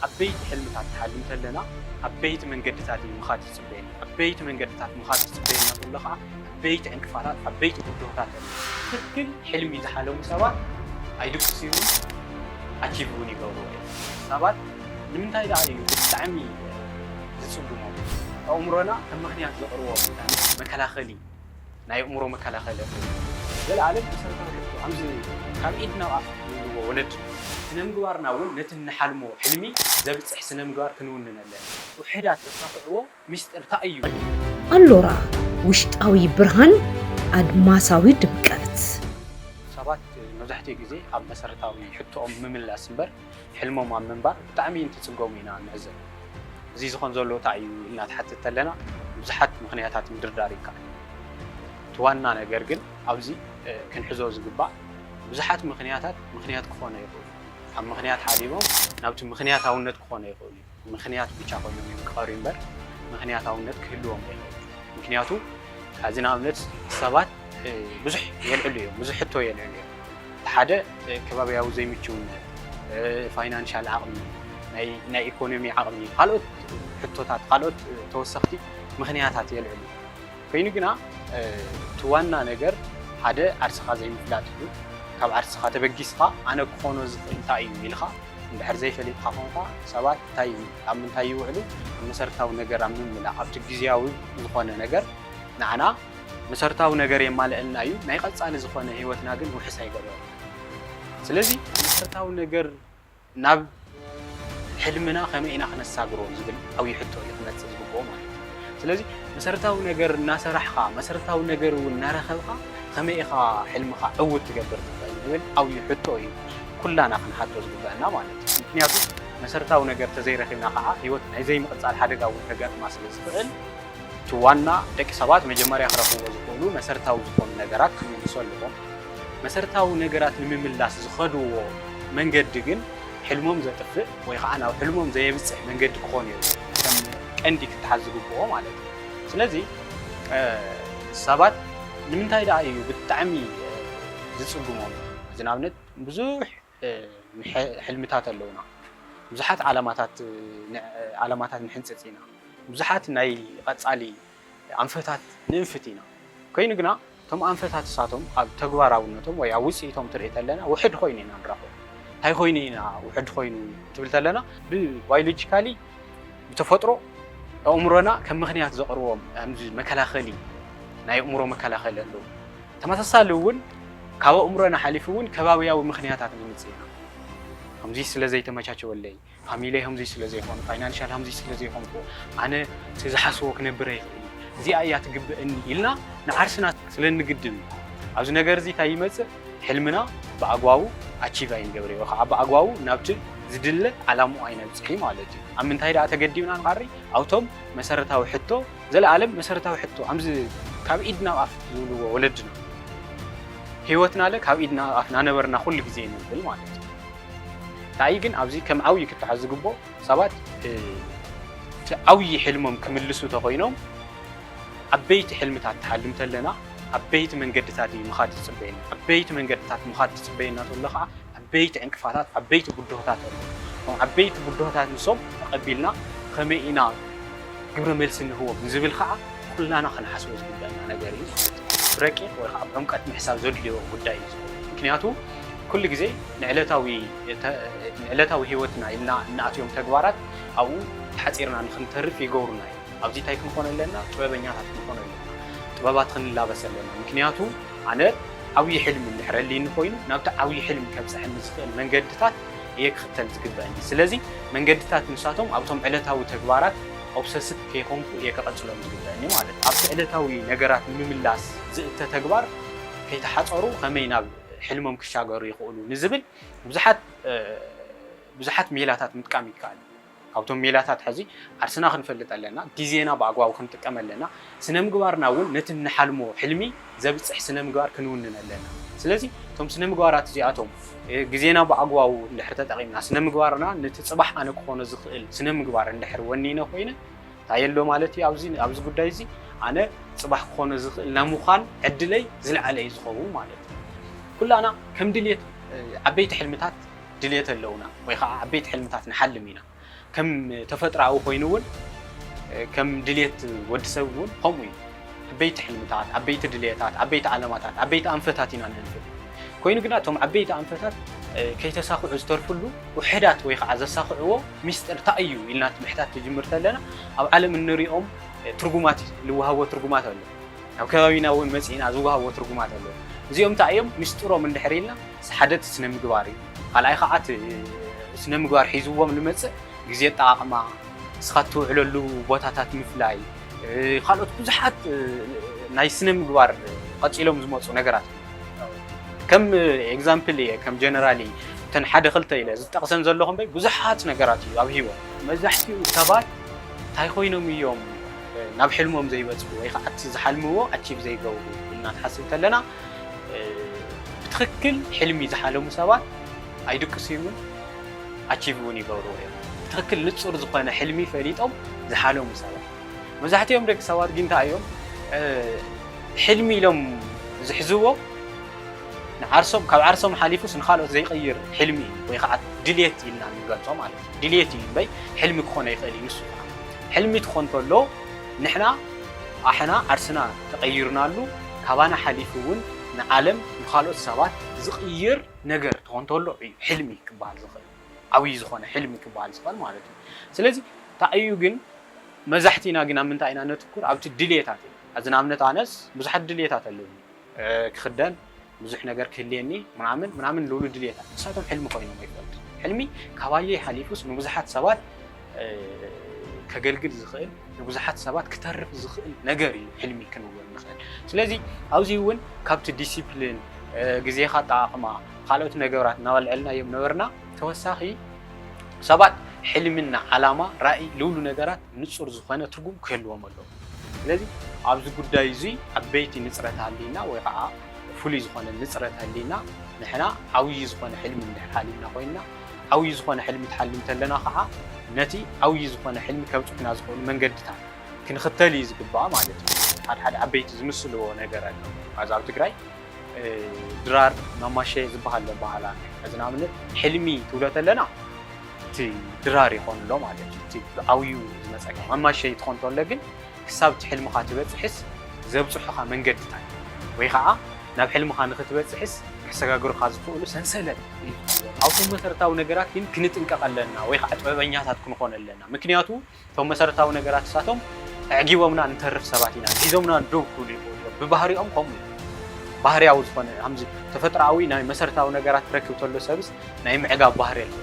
ዓበይቲ ሕልምታት ንሓልም ተለና ዓበይቲ መንገድታት እዩ ምኻድ ዝጽበየና። ዓበይቲ መንገድታት ምኻድ ዝጽበየና ተሎ ከኣ ዓበይቲ ዕንቅፋታት ዓበይቲ ብድሆታት ኣሎ። ትክክል ሕልሚ ዝሓለሙ ሰባት ኣይድቅስዩምን ኣቺቭ እውን ይገብርዎ እዮም። ሰባት ንምንታይ ደኣ እዩ ብጣዕሚ ዝጽግሞም? ኣእምሮና ከም ምክንያት ዘቅርቦ መከላኸሊ። ናይ ኣእምሮ መከላኸሊ ኣፍደገ። ዘለኣለም መሰረታዊ ሕቶ ኣምዚ ካብ ኢድ ናብ ኣፍ ንብልዎ ወለድና። ስነምግባርና እውን ነቲ እንሓልሞ ሕልሚ ዘብጽሕ ስነምግባር ክንውንን ኣለና። ውሑዳት ዘሳኽዕዎ ምስጢር ታይ እዩ? ኣሎራ ውሽጣዊ ብርሃን ኣድማሳዊ ድምቀት። ሰባት መብዛሕትኡ ግዜ ኣብ መሰረታዊ ሕቶኦም ምምላስ እምበር፣ ሕልሞም ኣብ ምንባር ብጣዕሚ እንትፅገሙ ኢና ንዕዘብ። እዚ ዝኾን ዘሎ ታይ እዩ ኢልና ትሓትት ተለና ብዙሓት ምኽንያታት ምድርዳር ይከኣል እዩ። እቲ ዋና ነገር ግን ኣብዚ ክንሕዞ ዝግባእ ብዙሓት ምኽንያታት ምኽንያት ክኾነ ይኽእሉ ኣብ ምኽንያት ሓሊቦም ናብቲ ምኽንያታውነት ክኾነ ይኽእሉ እዮም። ምኽንያት ብቻ ኮይኖም እዮም ክቐርዩ እምበር ምኽንያታውነት ክህልዎም ኣይኽእልን። ምኽንያቱ ሕዚ ንኣብነት ሰባት ብዙሕ የልዕሉ እዮም፣ ብዙሕ ሕቶ የልዕሉ እዮም። እቲ ሓደ ከባቢያዊ ዘይምችውነት፣ ፋይናንሻል ዓቕሚ፣ ናይ ኢኮኖሚ ዓቕሚ፣ ካልኦት ሕቶታት፣ ካልኦት ተወሰኽቲ ምኽንያታት የልዕሉ። ኮይኑ ግና እቲ ዋና ነገር ሓደ ዓርስኻ ዘይምፍላጥ እዩ። ካብ ዓርስኻ ተበጊስኻ ኣነ ክኾኖ ዝኽእል እንታይ እዩ ኢልኻ እንድሕር ዘይፈሊጥካ ኮንካ ሰባት እንታይ ኣብ ምንታይ ይውዕሉ ኣብ መሰረታዊ ነገር ኣብ ምምላእ ኣብቲ ግዝያዊ ዝኾነ ነገር ንዓና መሰረታዊ ነገር የማልእልና እዩ ናይ ቀፃሊ ዝኾነ ህይወትና ግን ውሕስ ኣይገብረልናን። ስለዚ መሰረታዊ ነገር ናብ ሕልምና ከመይ ኢና ክነሳግሮ ዝብል ዓብይ ሕቶ እዩ ክመፅእ ዝግበኦ ማለት እዩ። ስለዚ መሰረታዊ ነገር እናሰራሕኻ መሰረታዊ ነገር እውን እናረኸብኻ ከመይ ኢኻ ሕልምኻ ዕውት ትገብር ትኽእል ዝብል ዓብይ ሕቶ እዩ ኩላና ክንሓቶ ዝግበኣና ማለት እዩ። ምኽንያቱ መሰረታዊ ነገር ተዘይረኺብና ከዓ ህይወት ናይ ዘይምቕፃል ሓደጋ እውን ከጋጥማ ስለዝኽእል፣ እቲ ዋና ደቂ ሰባት መጀመርያ ክረኽብዎ ዝኽእሉ መሰረታዊ ዝኾኑ ነገራት ክምልሱ ኣለዎም። መሰረታዊ ነገራት ንምምላስ ዝኸድዎ መንገዲ ግን ሕልሞም ዘጥፍእ ወይ ኸዓ ናብ ሕልሞም ዘየብፅሕ መንገዲ ክኾን የብሉን። ከም ቀንዲ ክተሓዝ ዝግብኦ ማለት እዩ። ስለዚ ሰባት ንምንታይ ደኣ እዩ ብጣዕሚ ዝፅግሞም? እዚ ንኣብነት ብዙሕ ሕልምታት ኣለዉና፣ ብዙሓት ዓላማታት ንሕንጽጽ ኢና፣ ብዙሓት ናይ ቐጻሊ ኣንፈታት ንእንፍት ኢና፣ ኮይኑ ግና እቶም ኣንፈታት እሳቶም ኣብ ተግባራውነቶም ወይ ኣብ ውጽኢቶም ትርኢ ተለና ውሕድ ኮይኑ ኢና ንረኽቦ። እንታይ ኮይኑ ኢና ውሕድ ኮይኑ ትብል ተለና ብባዮሎጂካሊ ብተፈጥሮ ኣእምሮና ከም ምክንያት ዘቕርቦም ኣዚ መከላኸሊ ናይ ኣእምሮ መከላኸሊ ኣለዉ። ተመሳሳሊ እውን ካብ ኣእምሮና ሓሊፉ እውን ከባብያዊ ምኽንያታት ነምፅእ ኢና። ከምዙይ ስለ ዘይተመቻቸወለይ፣ ፋሚሊየይ ከምዙይ ስለ ዘይኾኑ፣ ፋይናንሻል ከምዙይ ስለ ዘይኾንኩ ኣነ እቲ ዝሓስቦ ክነብር ኣይኽእልን እየ፣ እዚኣ እያ ትግበእኒ ኢልና ንዓርስና ስለ እንግድም እዩ። ኣብዚ ነገር እዚ እንታይ ይመፅእ? ሕልምና ብኣግባቡ ኣቺቭ ኣይንገብርን ወይ ከዓ ብኣግባቡ ናብቲ ዝድለ ዓላምኡ ኣይነብፅሕን ማለት እዩ። ኣብ ምንታይ ደኣ ተገዲብና ንዓሪ? ኣብቶም መሰረታዊ ሕቶ ዘለኣለም መሰረታዊ ሕቶ ኣምዚ ካብ ኢድ ናብ ኣፍ ዝብልዎ ወለድና ህይወትና ለ ካብ ኢድ ናብ ኣፍ ናነበርና ኩሉ ግዜ ንብል ማለት እዩ እንታይ ግን ኣብዚ ከም ዓብዪ ክተሓዝ ዝግብኦ ሰባት እቲ ዓብዪ ሕልሞም ክምልሱ ተኮይኖም ዓበይቲ ሕልምታት ትሓልም ተለና ዓበይቲ መንገድታት እዩ ምኻድ ዝፅበየና ዓበይቲ መንገድታት ምኻድ ትፅበየና ተሎ ከዓ ዓበይቲ ዕንቅፋታት ዓበይቲ ብድሆታት ኣለዉ። እቶም ዓበይቲ ብድሆታት ንሶም ተቐቢልና ከመይ ኢና ግብረ መልሲ ንህቦም ንዝብል ከዓ ኩላና ክንሓስቦ ዝግበእና ነገር እዩ። ብረቂቕ ወይ ከዓ ብዕምቀት ምሕሳብ ዘድልዮ ጉዳይ እዩ ዝኸውን። ምክንያቱ ኩሉ ግዜ ንዕለታዊ ንዕለታዊ ህይወትና ኢልና እንኣትዮም ተግባራት ኣብኡ ተሓፂርና ንክንተርፍ ይገብሩና እዮም። ኣብዚ ታይ ክንኾን ኣለና ጥበበኛታት ክንኾን ኣለና ጥበባት ክንላበስ ኣለና ምክንያቱ ኣነ ዓብዪ ሕልሚ እንድሕር ኣልይኒ ኮይኑ ናብቲ ዓብዪ ሕልሚ ከብፀሐኒ ዝኽእል መንገድታት እየ ክኽተል ዝግበእኒ ስለዚ መንገድታት ንሳቶም ኣብቶም ዕለታዊ ተግባራት ኦብሰስት ከይኾንኩ እየ ከቐፅሎም ዝግበእኒ ማለት እዩ ኣብቲ ዕለታዊ ነገራት ንምምላስ ዝእተ ተግባር ከይተሓፀሩ ከመይ ናብ ሕልሞም ክሻገሩ ይኽእሉ ንዝብል ብዙሓት ብዙሓት ሜላታት ምጥቃም ይከኣል እዩ። ካብቶም ሜላታት ሐዚ ዓርስና ክንፈልጥ ኣለና፣ ግዜና ብኣግባቡ ክንጥቀም ኣለና፣ ስነምግባርና እውን ነቲ እንሓልሞ ሕልሚ ዘብፅሕ ስነምግባር ክንውንን ኣለና። ስለዚ እቶም ስነምግባራት እዚኣቶም ግዜና ብኣግባቡ እንድሕር ተጠቒምና ስነምግባርና ነቲ ፅባሕ ኣነ ክኾኖ ዝኽእል ስነምግባር እንድሕር ወኒነ ኮይነ እንታይ ኣሎ ማለት እዩ ኣብዚ ኣብዚ ጉዳይ እዚ ኣነ ፅባሕ ክኾኖ ዝኽእል ናይ ምዃን ዕድለይ ዝለዓለ እዩ ዝኸውን ማለት እዩ። ኩላና ከም ድሌት ዓበይቲ ሕልምታት ድልየት ኣለውና ወይ ከዓ ዓበይቲ ሕልምታት ንሓልም ኢና። ከም ተፈጥሮኣዊ ኮይኑ እውን ከም ድልየት ወዲ ሰብ እውን ከምኡ እዩ። ዓበይቲ ሕልምታት፣ ዓበይቲ ድልየታት፣ ዓበይቲ ዓለማታት፣ ዓበይቲ ኣንፈታት ኢና ንህንፍብ። ኮይኑ ግና እቶም ዓበይቲ ኣንፈታት ከይተሳኽዑ ዝተርፍሉ ውሕዳት ወይ ከዓ ዘሳኽዕዎ ሚስጥር እንታይ እዩ ኢልና እቲ ምሕታት ትጅምር ተለና ኣብ ዓለም እንሪኦም ትርጉማት ልወሃቦ ትርጉማት ኣሎ። ኣብ ከባቢና እውን መጺእና ዝወሃቦ ትርጉማት ኣሎ። እዚኦም እንታይ እዮም? ምስጢሮም እንድሕር ኢልና እቲ ሓደ እቲ ስነ ምግባር እዩ። ካልኣይ ከዓ እቲ ስነ ምግባር ሒዝዎም ዝመጽእ ግዜ ኣጠቓቕማ፣ ንስኻ እትውዕለሉ ቦታታት ምፍላይ ካልኦት ብዙሓት ናይ ስነ ምግባር ቀጺሎም ዝመጹ ነገራት እዮም። ከም ኤግዛምፕል እየ ከም ጀነራሊ እተን ሓደ ክልተ ኢለ ዝጠቕሰን ዘለኹ እምበይ ብዙሓት ነገራት እዩ ኣብ ህይወት። መብዛሕትኡ ሰባት እንታይ ኮይኖም እዮም ናብ ሕልሞም ዘይበጽሑ ወይ ከዓ እቲ ዝሓልምዎ ኣቺቭ ዘይገብሩ ኢልና ክንሓስብ ከለና ብትኽክል ሕልሚ ዝሓለሙ ሰባት ኣይድቅሱዩምን ኣቺቭ እውን ይገብርዎ እዮም። ብትኽክል ንጹር ዝኾነ ሕልሚ ፈሊጦም ዝሓለሙ ሰባት መብዛሕትኦም ደቂ ሰባት ግን እንታይ እዮም ሕልሚ ኢሎም ዝሕዝዎ ንዓርሶም ካብ ዓርሶም ሓሊፉስ ንኻልኦት ዘይቅይር ሕልሚ እዩ ወይ ከዓ ድሌት ኢልና ንገልጾ ማለት እዩ። ድልየት እዩ እምበይ ሕልሚ ክኾን ኣይኽእል እዩ ንሱ ከኣ ሕልሚ ትኾን ከሎ ንሕና ኣሕና ዓርስና ተቀይርናሉ ካባና ሓሊፉ እውን ንዓለም ንኻልኦት ሰባት ዝቅይር ነገር ትኾን ተሎ እዩ ሕልሚ ክበሃል ዝኽእል ዓብይ ዝኾነ ሕልሚ ክበሃል ዝኽእል ማለት እዩ ስለዚ ታይ እዩ ግን መዛሕቲና ግን ኣብ ምንታይ ኢና ነትኩር ኣብቲ ድልየታት ኢና ሐዚ ንኣብነት ኣነስ ብዙሓት ድልየታት ኣለዉኒ ክኽደን፣ ብዙሕ ነገር ክህልየኒ ምናምን ምናምን ልብሉ ድልየታት ንሳቶም ሕልሚ ኮይኖም ኣይፈልጡን። ሕልሚ ካባየይ ሓሊፉስ ንብዙሓት ሰባት ከገልግል ዝኽእል ንብዙሓት ሰባት ክተርፍ ዝኽእል ነገር እዩ ሕልሚ ክንብል ንኽእል። ስለዚ ኣብዚ እውን ካብቲ ዲሲፕሊን ግዜኻ ኣጠቓቕማ ካልኦት ነገራት እናበልዐልናዮም ነበርና ተወሳኺ ሰባት ሕልምና ዓላማ ራእይ ልብሉ ነገራት ንጹር ዝኾነ ትርጉም ክህልዎም ኣለዎ። ስለዚ ኣብዚ ጉዳይ እዙይ ዓበይቲ ንጽረት ሃልይና ወይ ኸዓ ፍሉይ ዝኾነ ንጽረት ሃልይና ንሕና ዓብዪ ዝኾነ ሕልሚ እንድሕር ሓሊምና ኮይንና ዓብዪ ዝኾነ ሕልሚ ትሓልም ተለና ኸዓ ነቲ ዓብዪ ዝኾነ ሕልሚ ከብጽሑና ዝኽእሉ መንገድታት ክንኽተል እዩ ዝግባእ ማለት እዩ። ሓደ ሓደ ዓበይቲ ዝምስልዎ ነገር ኣሎ ኣብዚ ኣብ ትግራይ ድራር ማማሸ ዝበሃል ኣሎ ኣበሃህላ እዚ ንኣብነት ሕልሚ ትብሎ ተለና እቲ ድራር ይኾን ኣሎ ማለት እዩ እቲ ብዓውዩ ዝመፀካ መማሸይ ትኾን ተሎ ግን ክሳብ እቲ ሕልምኻ ትበፅሕስ ዘብፅሑኻ መንገድታት ወይ ኸዓ ናብ ሕልምኻ ንኽትበፅሕስ ከሰጋግሩኻ ዝኽእሉ ሰንሰለት ኣብቶም መሰረታዊ ነገራት ግን ክንጥንቀቕ ኣለና ወይ ኸዓ ጥበበኛታት ክንኾን ኣለና ምክንያቱ እቶም መሰረታዊ ነገራት እሳቶም ኣዕጊቦምና ንተርፍ ሰባት ኢና ሒዞምና ደው ክብሉ ይኽእሉ እዮም ብባህሪኦም ከምኡ እዩ ባህርያዊ ዝኾነ ከምዚ ተፈጥሮኣዊ ናይ መሰረታዊ ነገራት ክረክብ ተሎ ሰብስ ናይ ምዕጋብ ባህሪ ኣሎ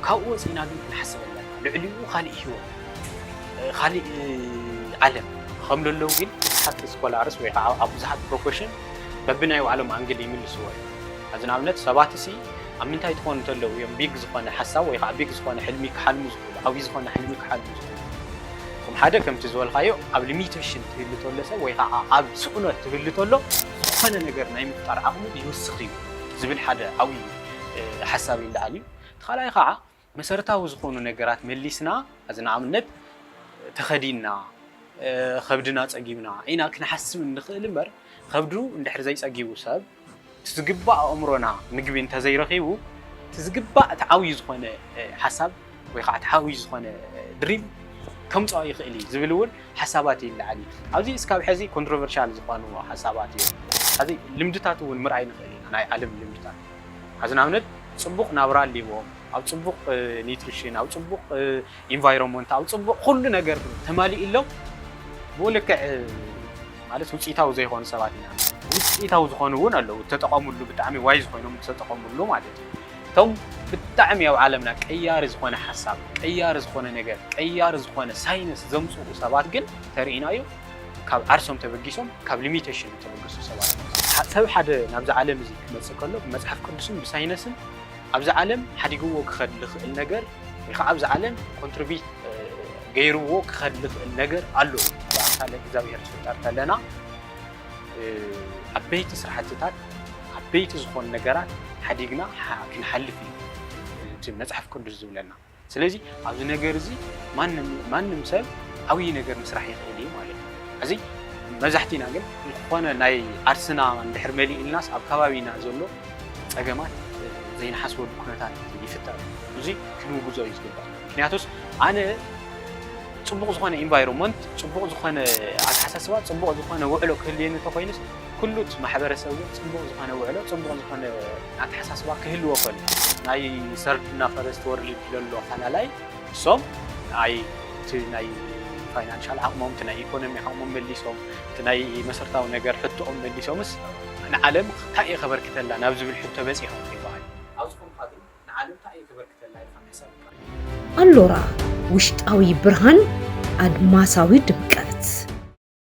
ካብኡ ወፂእና ግን ክንሓስብ ኣለና ልዕሊኡ ካሊእ ሂወት ካሊእ ዓለም ከም ለለው ግን ብዙሓት ስኮላርስ ወይ ከዓ ኣብ ብዙሓት ፕሮፌሽን በብናይ ባዕሎም ኣንግል ይምልስዎ እዮም እዚ ንኣብነት ሰባት ሲ ኣብ ምንታይ ትኾኑ ተለዉ እዮም ቢግ ዝኾነ ሓሳብ ወይ ኻዓ ቢግ ዝኾነ ሕልሚ ክሓልሙ ዝኽእሉ ዓብይ ዝኾነ ሕልሚ ክሓልሙ ዝኽእሉ? ከም ሓደ ከምቲ ዝበልኻዮ ኣብ ሊሚተሽን ትህሉ ተሎ ሰብ ወይ ኻዓ ኣብ ስእኖት ትህሉ ተሎ ዝኾነ ነገር ናይ ምፍጣር ዓቕሙ ይውስኽ እዩ ዝብል ሓደ ዓብይ ሓሳብ ይለዓል እዩ። እቲ ኻልኣይ ኻዓ መሰረታዊ ዝኾኑ ነገራት መሊስና ሕዚ ንኣብነት ተኸዲንና ኸብድና ፀጊብና ኢና ክንሓስብ እንኽእል እምበር ኸብዱ እንድሕር ዘይፀጊቡ ሰብ እቲ ዝግባእ ኣእምሮና ምግቢ እንተዘይረኺቡ እቲ ዝግባእ እቲ ዓብዩ ዝኾነ ሓሳብ ወይ ከዓ እቲ ዓብዩ ዝኾነ ድሪም ከምፅኦ ይኽእል እዩ ዝብል እውን ሓሳባት ይለዓል እዩ። ኣብዚ እስካብ ሕዚ ኮንትሮቨርሻል ዝኾኑ ሓሳባት እዮም። ሕዚ ልምድታት እውን ምርኣይ ንኽእል ኢና ናይ ዓለም ልምድታት ሐዚ ንኣብነት ፅቡቕ ናብራ ኣልዎም ኣብ ፅቡቕ ኒትሪሽን ኣብ ፅቡቕ ኢንቫይሮመንት ኣብ ፅቡቕ ኩሉ ነገር ተማሊእሎም ብኡ ልክዕ ማለት ውፅኢታዊ ዘይኾኑ ሰባት ኢና ውፅኢታዊ ዝኾኑ እውን ኣለዉ እተጠቐምሉ ብጣዕሚ ዋይዝ ኮይኖም ዝተጠቐምሉ ማለት እዩ እቶም ብጣዕሚ ኣብ ዓለምና ቀያሪ ዝኾነ ሓሳብ ቀያሪ ዝኾነ ነገር ቀያሪ ዝኾነ ሳይንስ ዘምፅኡ ሰባት ግን ተርእይና እዩ ካብ ዓርሶም ተበጊሶም ካብ ሊሚቴሽን ዝተበገሱ ሰባት ኣ ሰብ ሓደ ናብዚ ዓለም እዚ ክመፅእ ከሎ ብመፅሓፍ ቅዱስን ብሳይነስን ኣብዚ ዓለም ሓዲግዎ ክኸድ ዝኽእል ነገር ወይ ከዓ ኣብዚ ዓለም ኮንትሪቢት ገይርዎ ክኸድ ዝኽእል ነገር ኣሎ ብኣምሳለ እግዚኣብሔር ዝፍጠር ከለና ዓበይቲ ስራሕትታት ዓበይቲ ዝኾኑ ነገራት ሓዲግና ክንሓልፍ እዩ እቲ መፅሓፍ ቅዱስ ዝብለና ስለዚ ኣብዚ ነገር እዚ ማንም ሰብ ዓብዪ ነገር ምስራሕ ይኽእል እዩ ማለት እዩ እዚ መብዛሕቲና ግን ዝኾነ ናይ ዓርስና እንድሕር መሊእልናስ ኣብ ከባቢና ዘሎ ፀገማት ዘይንሓስበሉ ኩነታት ይፍጠር እዚ ክንውግዞ እዩ ዝግባእ ምክንያቱስ ኣነ ፅቡቕ ዝኾነ ኢንቫይሮንመንት ፅቡቕ ዝኾነ ኣተሓሳስባ ፅቡቕ ዝኾነ ውዕሎ ክህልየኒ ተኮይኑስ ኩሉት ማሕበረሰብ እውን ፅቡቕ ዝኾነ ውዕሎ ፅቡቕ ዝኾነ ኣተሓሳስባ ክህልዎ ከሎ ናይ ሰርድና ፈረስት ወርልድ ለሎ ሓላላይ ንሶም ኣይ እቲ ናይ ፋይናንሻል ዓቕሞም እቲ ናይ ኢኮኖሚ ዓቕሞም መሊሶም እቲ ናይ መሰርታዊ ነገር ሕቶኦም መሊሶምስ ንዓለም ታይ እየ ከበርክተላ ናብ ዝብል ሕቶ በፂሖም ከይበሃል ኣብዚ ኮንካ ግን ንዓለም ታይ እየ ከበርክተላ ኢልካ ምሕሳብ ጥራሕ እዩ። ኣሎራ ውሽጣዊ ብርሃን ኣድማሳዊ ድምቀት።